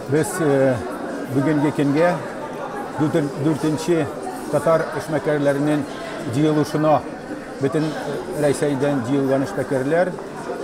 Без э, бүгенге көнгә дүртенче татар эшмәкәрләренең җыелышына бөтен э, Рәйсәйдән җыелган эшмәкәрләр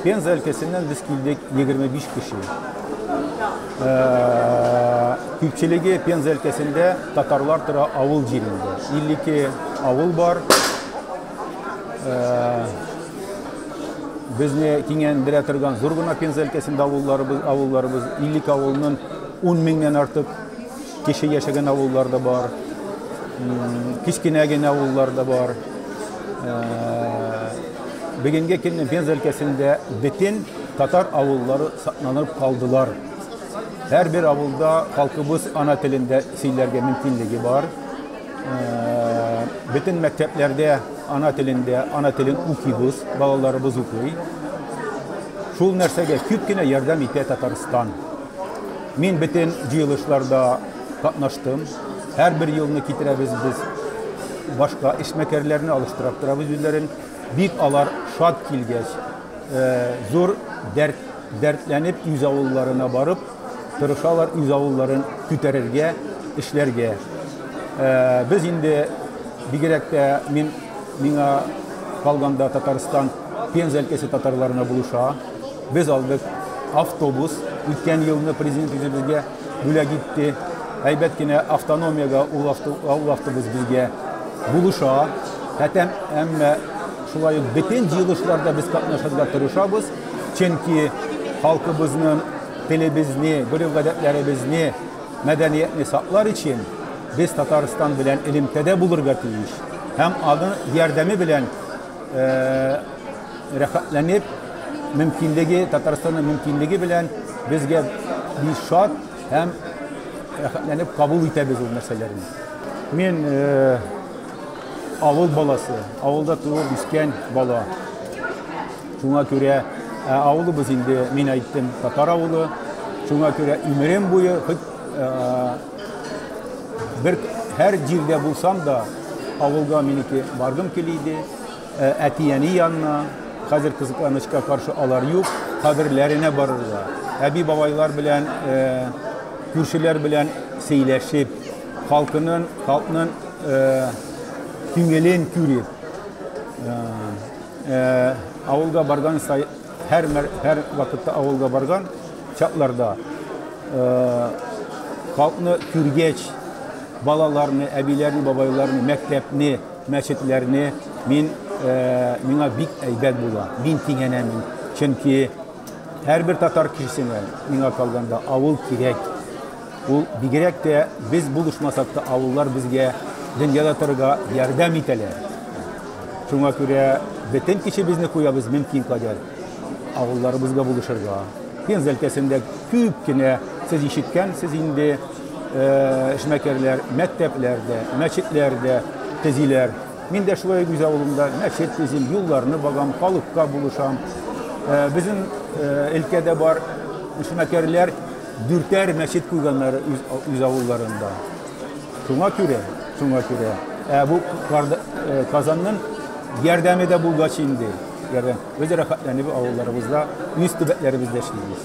Пенза өлкәсеннән без килдек 25 кеше. Э, күпчелеге Пенза өлкәсендә татарлар тора авыл җирендә. 52 авыл бар. Безне киңәндерә торган зур гына Пенза өлкәсендә авылларыбыз, авылларыбыз 52 авылның 10 меңнән артык кеше яшәгән авыллар да бар. Кечкенә генә авыллар да бар. Бүгенге көнне Пенза өлкәсендә бөтен татар авыллары сакланып калдылар. Һәрбер авылда халкыбыз ана телендә сөйләргә мөмкинлеге бар. Бөтен мәктәпләрдә ана телендә, ана телен укыйбыз, балаларыбыз укый. Шул нәрсәгә күп кенә ярдәм итә Татарстан. Мин бөтен җыелышларда катнаштым. Һәрбер елны китерәбез без башка эшмәкәрләрне алыштырып торабыз үзләрен. Бик алар шат килгәч, зур дәрт дәртләнеп үз авылларына барып Тырышалар үз авылларын күтәрергә, эшләргә. Без инде, бигрәк тә мин, миңа калганда Татарстан, Пенза өлкәсе татарларына булыша. Без алдык автобус, үткән елны президент үзе безгә бүләк итте. Әйбәт кенә автономиягә ул автобус безгә булыша. Әтәм, әмма шулай ук бөтен җыелышларда без катнашырга тырышабыз. Чөнки халкыбызның телебезне, гореф-гадәтләребезне, мәдәниятне саклар өчен без Татарстан белән элемтәдә булырга тиеш һәм аның ярдәме белән рәхәтләнеп, мөмкинлеге, Татарстанның мөмкинлеге белән безгә бик шат һәм рәхәтләнеп кабул итәбез ул нәрсәләрне. Мин авыл баласы, авылда туып үскән бала. Шуңа күрә авылыбыз инде, мин әйттем, татар авылы. Шуңа күрә имерем буе хоть бер һәр җирдә булсам да, авылга минеке баргым килә иде. Әти-әни янына, хәзер кызыканычка каршы алар юк, каберләренә барырга. Әби-бабайлар белән, күршеләр белән сөйләшеп, халкының, халкның күңелен күреп. Авылга барган сай, һәр, һәр вакытта авылга барган чакларда халкны күргәч, балаларны, әбиләрне, бабайларны, мәктәпне, мәчетләрне мин миңа бик әйбәт була. Мин тигәнәм. Чөнки һәрбер татар кешесенә миңа калганда авыл кирәк. Ул бигрәк тә без булышмасак та авыллар безгә дөньяда торырга ярдәм итәләр. Шуңа күрә бөтен көчебезне куябыз мөмкин кадәр авылларыбызга булышырга. Пенза өлкәсендә күп кенә сез ишеткәнсез инде эшмәкәрләр мәктәпләр дә, мәчетләр дә төзиләр. Мин дә шулай үз авылымда мәчет төзим, юлларны багам, халыкка булышам. Безнең өлкәдә бар эшмәкәрләр Дүртәр мәчет куйганнар үз, үз авылларында. Шуңа күрә, шуңа күрә. Ә бу э, Казанның ярдәме дә булгач инде. Ярдәм. Без рәхәтләнеп авылларыбызда, үз төбәкләребездә эшлибез.